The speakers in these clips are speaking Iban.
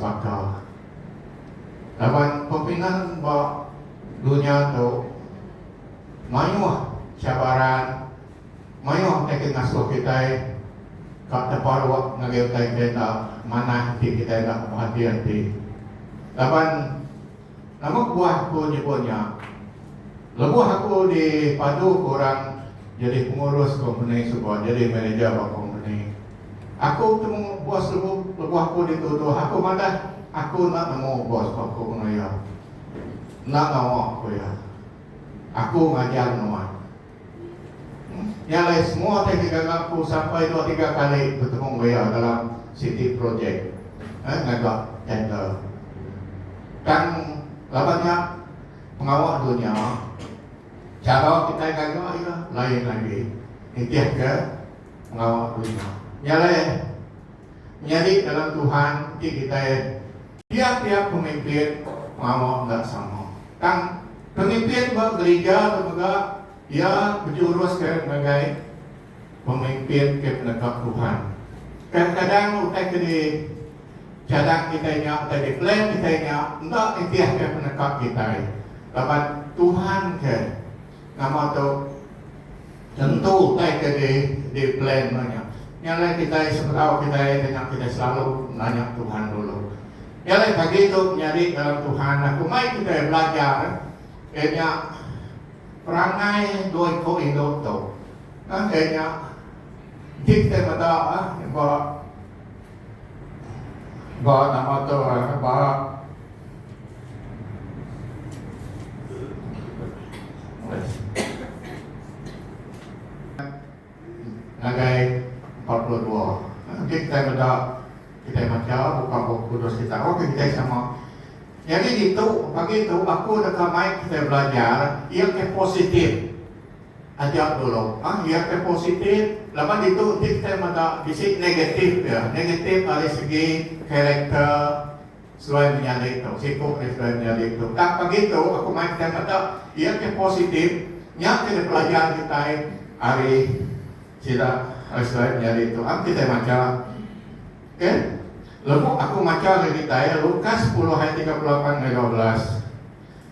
Baka laban pepingan ba dunya tu mayuh cabaran mayuh ti ke ngasuh kitai ka teparuk ngagai utai kitai enda manah enti kitai enda berhati-hati laban Tangguh buah ku nyebut nya. Lebuh aku di padu ku orang jadi pengurus kompeni suba jadi manager ba kompeni. Aku betemu bos lebuh lebuh aku dituduh aku madah aku enda nemu bos ba ku enggau iya. Enda ngawa ku iya. Aku ngajar nuan. Nya alai semua ti ngaga ngaku sampai dua tiga kali betemu enggau iya dalam siti projek ngaga tender. Tang laban nya pengawa dunya chara kitai ngaga iya lain agi nitihka pengawa dunya. Nya alai menyadi dalam Tuhan ti kitai. Tiap-tiap pemimpin pengawa enda sama. Tang, pemimpin ba gerija tu mega iya bejurus ke ngagai pemimpin ke penegap Tuhan. Kadang-kadang utai ke di cadang kitai nya, utai di plan kitai nya enda nitihka peneka kitai laban Tuhan ke. Nama tu tentu utai ke di di plan meh nya. Nya alai kitai sebedau kitai ti nya kitai selalu nanya Tuhan dulu. Nya alai pagi tu menyadi dalam Tuhan dah kumbai kitai belajar iya nya perangai dua iku indu tu. Nah iya nya enti kitai meda ba Ba nama tu orang nya ba ngagai empat puluh dua enti kitai meda kitai macha buka bup kudus kitai oka kitai sama nyadi ditu pagi tu aku deka mai kitai belajar iya ke positif. Aja dulu ah iya ke positif laban ditu enti kitai meda bisi negatif dia, negatif ari segi character seluai menyadi tu, siku dia seluai menyadi tu. Tang pagi tu aku mai kitai meda iya ke positif nya jadi pelajar kitai ari sida ari seluai menyadi tu. Am kitai macha ke lebuh aku macha ngagai kitai Lukas sepuluh ayat tiga puluh lapan ngagai dua belas.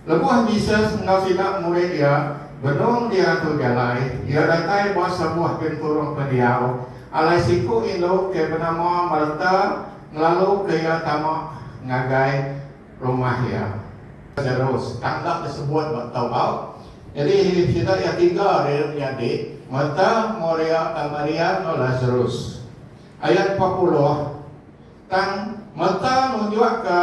Lebuh Jesus enggau sida murid iya benung di antu jalai, iya datai ba sabuah genturung pendiau alai siku indu ke benama Marta ngelaluka iya tama ngagai rumah iya. Lazarus, tang enda disebut ba tau bau. Nyadi sida iya tiga ri menyadi, Marta, Maria enggau Maria enggau Lazarus. Ayat empat puluh, Tang Marta nunjukka.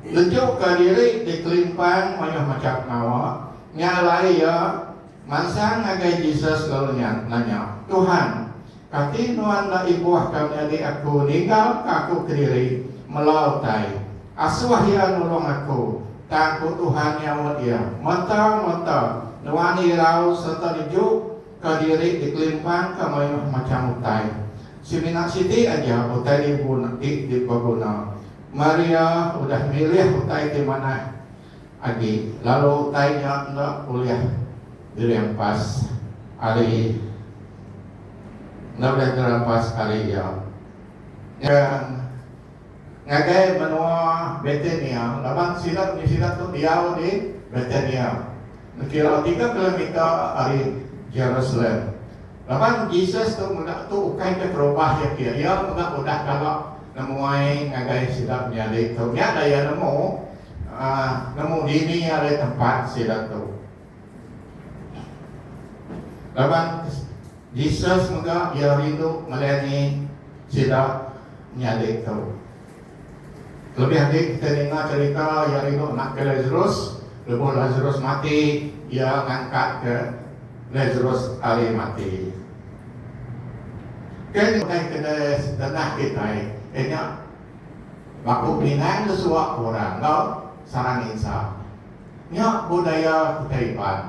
Nunjukka diri ti kelimpang mayuh macham pengawa. Nya alai iya mansang ngagai Jesus lalu iya nanya, Tuhan, kati Nuan enda ibuh tang nyadi aku ninggalka aku kediri melau utai? Asuh iya nulung aku. Tang, ku Tuhan nyaut iya, Meta, meta, Nuan irau sereta neju. ka diri dikelimpangka mayuh macham utai. Semina siti aja utai dibun ti dibeguna. Maria udah milih utai ti manah agi lalu utai nya enda ulih dirimpas ari enda ulih dirimpas ari iya. Nyaga. Ngagai menua Betania, laban sida enggau sida tu diau di Betania, dikira tiga kilometer ari Jerusalem. Laban Jesus tu mega tu ukai ke terubah iya ke, iya mega udah kala nemuai ngagai sida menyadi tu. Nya da iya nemu, nemu dini ari tempat sida tu. Laban Jesus mega iya rindu ngelayani sida nyadi tu. Kelebih agi kita ninga cherita iya rindu nakke Lazarus, lebuh Lazarus mati, iya ngangkatka Lazarus ari mati. Ke nyengkaika deh setenah kitai ke nya baku pinang ke suwa ke orang enggau sarang insa. Nya budaya kitai Iban.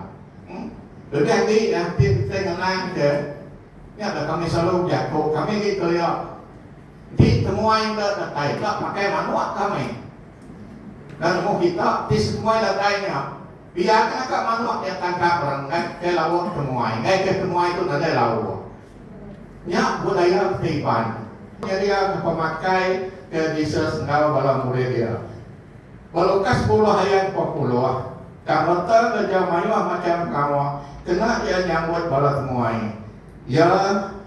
Lebih agi yang ti kitai ngenang ke nya da kami selalu bejaku kami agi kelia enti temuai enda datai enda pakai manuk kami da nemu kita ti setemuai datai nya biarka ka manuk nya tangkap orang enggai ke lawa temuai enggai ke temuai tu nadai lawa. Nya budaya kitai Iban. Nyedia pemakai ke Jesus enggau bala murid iya. Walau ka sepuluh ayat empat puluh, kareta ngereja mayuh macham pengawa kena iya nyambut bala temuai iya,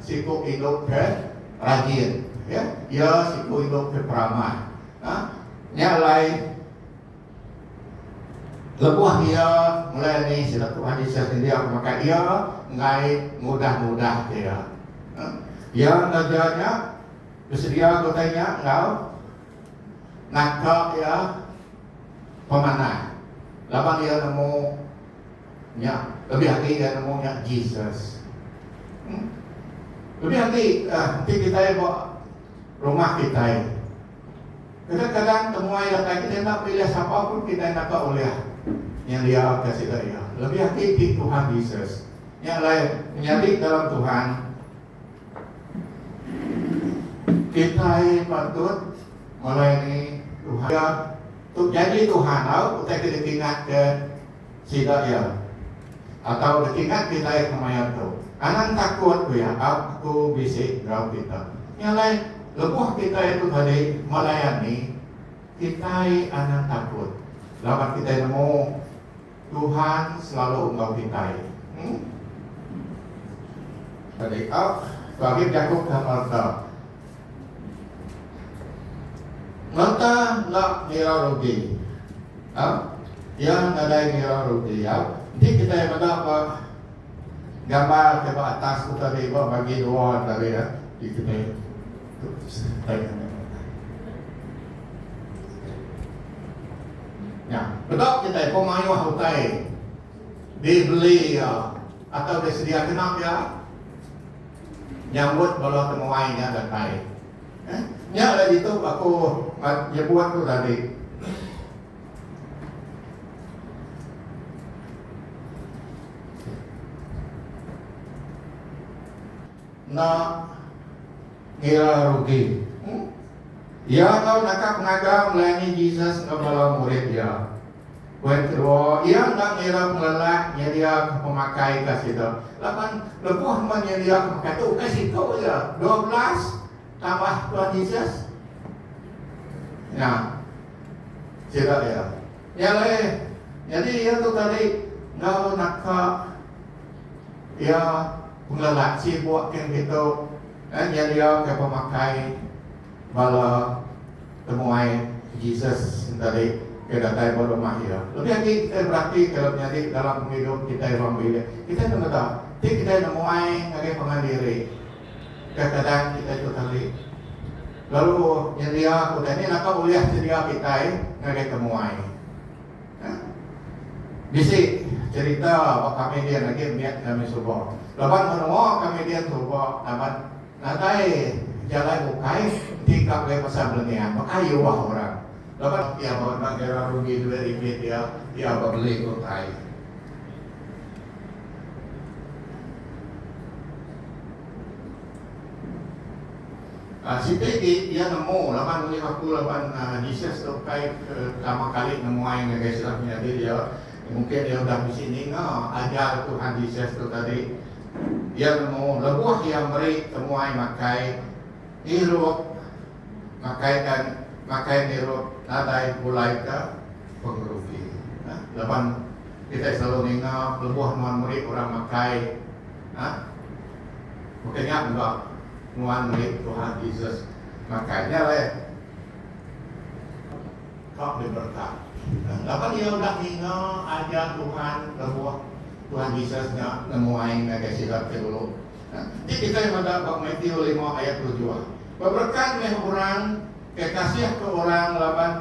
siku idup ke rajin, iya siku idup ke peramah. Nya alai, lebuh iya mulai ni sida Tuhan Jesus nyendiaka baka iya enggai ngudah-ngudahka iya. Iya ngereja nya, besedia ke utai nya enggau. Naka iya pemanah laban iya nemu nya lebih agi iya nemu nya Jesus. Em Lebih agi enti kitai ba rumah kitai kadang-kadang temuai datai kitai enda milih sapa pun kitai enda ka ulih nyediaka sida iya lebih agi ti Tuhan Jesus. Nya alai menyadi dalam Tuhan. Kitai patut melayani Tuhan. Iya tu bejanji Tuhan tau utai ke dikingatka sida iya atau dikingat kitai kemaya tu. Anang takut ku iya au aku bisi enggau kita. Nya alai lebuh kitai tu tadi melayani, kitai anang takut laban kitai nemu. Tuhan selalu enggau kitai. Hm. Tadi ak bagi jaku ke merta. Merta enda ngira rugi. Ha? Iya nadai ngira rugi ya. Enti kitai meda ba gambar ke ba atas tu tadi ba bagi dua tadi ya. Di kitai. Idup tu senang amat tuan-tuan. Nya, bedok kitai ko mayuh utai dibeli iya atau disedia genap iya nyambut bala temuai nya datai. Eh, nya lah ditu aku nyebut tu tadi. Enda ngira rugi. Iya enggau naka pengaga melayani Jesus enggau bala murid iya. Poin kedua, iya enda ngira pengelak nyediaka pemakai ke sida. Laban lebuh nuan nyediaka pemakai tu ukai siku aja, dua belas tambah Tuan Jesus. Nya. Sida iya. Nya alai. Nyadi iya tu tadi enggau naka Iya pula laci buah kin kitu eh nyediaka pemakai bala temuai Jesus tadi ke datai ba rumah iya. Lebih agi kitai beratika lalu nyadi dalam pengidup kitai ruang bilik, kitai enda meda ti kitai nemuai ngagai pangan diri ke keadaan kitai tu tadi lalu nyendiaka utai. Ni naka ulih sedia kitai ngagai temuai. Bisi cerita ba komedian agi mit kami suba. Laban menua komedian suba taban nadai jalai bukai enti ka mega pasal belengeng baka iuh orang. Laban iya ba enda ngira rugi duit ringgit iya, iya ba beli ke utai. Siti ti iya nemu laban ulih aku laban Jesus tu kai ke pertama kali nemuai ngagai sida penyadi iya. Mungkin iya udah bisi ninga ajar Tuhan Jesus tu tadi. Iya nemu lebuh iya meri temuai makai ngirup makai ka makai ngirup nadai pulai ke pengerugi. Laban kitai selalu ninga lebuh nuan meri orang makai Bukai nya enggau nuan murid Tuhan Jesus ngagai nya alai. Kap diberta. Laban iya udah ninga ajar Tuhan lebuh Tuhan Jesus nya nemuai ngagai sida ti dulu. Ti kitai meda ba Matiu lima ayat tujuh. Beberkat meh orang ke kasihka orang laban.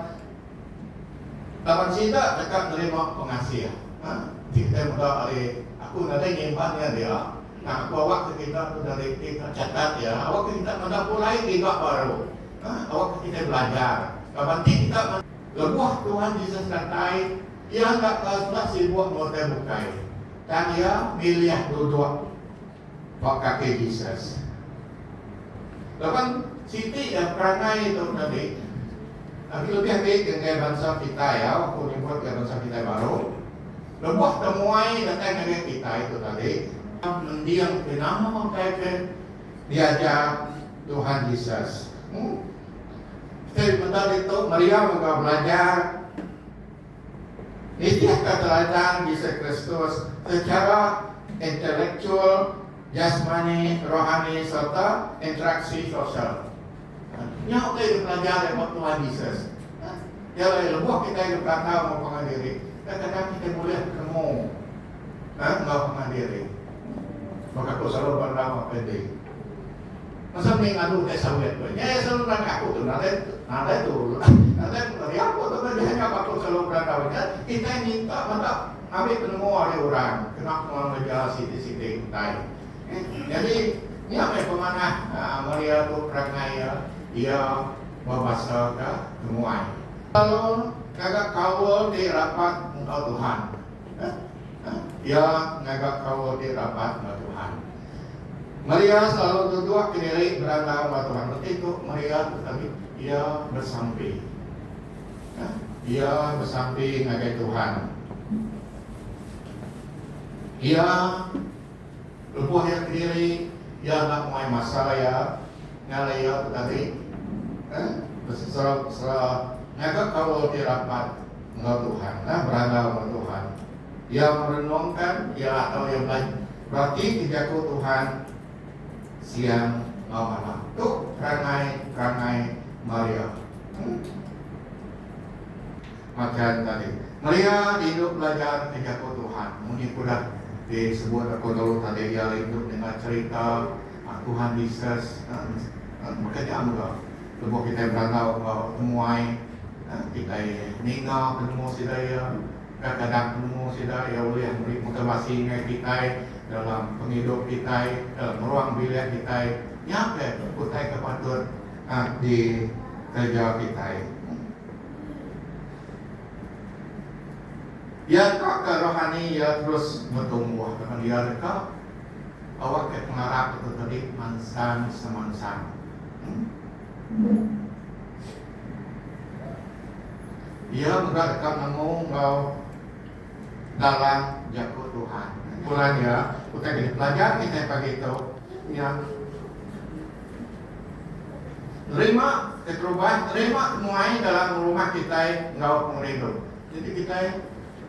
Laban sida deka nerima pengasih. Nah, ti kitai meda ari aku nadai nyimpan iya dia. Nah, aku awak ke kita tu dari ti ka catat iya. Awak ke kita meda pulai giga baru. Nah, awak ke kitai belajar. Laban ti kita. Lebuh Tuhan Jesus datai, iya enda ka suah sibuk enggau utai bukai. Tang iya milih duduk. ba kaki Jesus. Laban siti iya perangai tu nabi. Agi lebih agi ke enggai bansa kitai au aku nyebut ga bansa kitai baru. Lebuh temuai datai ngagai kitai tu tadi, tang mending ti nama utai ke diajar Tuhan Jesus. Kitai meda ditu meriau enggau belajar. Nitih keteladang Jesu Kristus sechara intelektual, jasmani, rohani sereta interaksi sosial. Nya utai ke pelajar iya ba Tuhan Jesus. Iya alai lebuh kitai dulu belantau enggau pangan diri, kadang-kadang kitai bulih penemu enggau pangan diri. Baka aku selalu belantau enggau Febie. Masa mih ngadu nya saulek meh nya iya selalu nerangka aku tu nadai nadai turun nadai meriau ko tau nadai hanya batu selalu berandau nya kitai minta meda ngambi penemu ari orang kena penguang ngereja siti siti utai eh jadi nya meh pemanah aaa Maria tu perangai iya iya bebasa ka temuai. Selalu ngaga kaul ti rapat enggau Tuhan. Iya ngaga kaul ti rapat enggau Tuhan. Maria selalu tutup ke diri berandau enggau Tuhan. Reti tu Maria tadi iya besampi. Iya besampi ngagai Tuhan. Iya Lebuh iya kediri, iya enda muai masa iya ngalai iya betading eh besesera-besera ngaga kaul ti rapat enggau Tuhan eh berandau enggau Tuhan. Iya merenungka iya atau iya bela beratika Jaku Tuhan siang enggau malam. Tu perangai-perangai Maria. Eh. Machan tadi. Maria indu belajar ke jaku Tuhan. Munyi ke udah di sebut aku dulu tadi iya indu dengar cerita Tuhan Jesus baka nya mega lebuh kitai berandau enggau temuai kitai ninga penemu sida iya kadang-kadang penemu sida iya ulih meri motivasi ngagai kitai dalam pengidup kitai dalam ruang bilik kitai nya ke utai ke patut di kereja kitai. Iya ka ke rohani iya terus betumbuh laban iya deka awak ke pengarap ke tadi mansang semansang. Iya mega deka nemu enggau dalam Jaku Tuhan. Bulan iya, utai bisi pelajar kitai pagi tu nya nerima keterubah, nerima muai dalam rumah kitai enggau pengerindu. Jadi kitai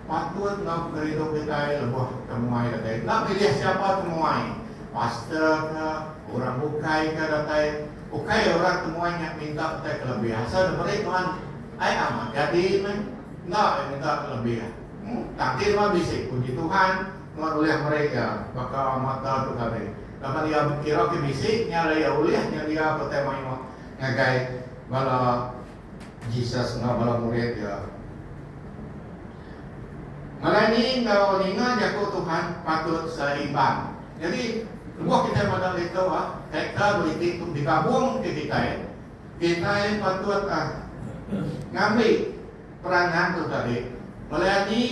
patut enggau pengerindu kitai lebuh ke muai datai. Enda milih siapa ke muai, pastor ke, orang bukai ke datai, ukai orang ke muai nya minta utai ke lebih. Asal diberi Tuhan, ai amat jadi meh. Enda ai minta belebih. Kaki nuan bisi puji Tuhan, nuan ulih meri iya baka mata tu tadi. Laban iya kira ke bisi, nya alai iya ulih nyedia ke utai mayuh ngagai bala Jesus enggau bala murid iya. Ngalai ni enggau ninga jaku Tuhan patut seimbang. Nyadi, lebuh kitai meda ditu, karakter beriti tu digabungka kitai. kitai patut ngambi peranan tu tadi melai agi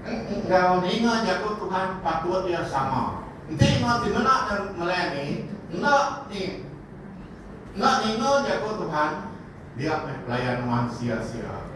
enggau ninga jaku Tuhan patut iya sama. Enti enggau ti meda melai agi enda ni enda ninga jaku Tuhan dia meh pelayan nuan sia-sia.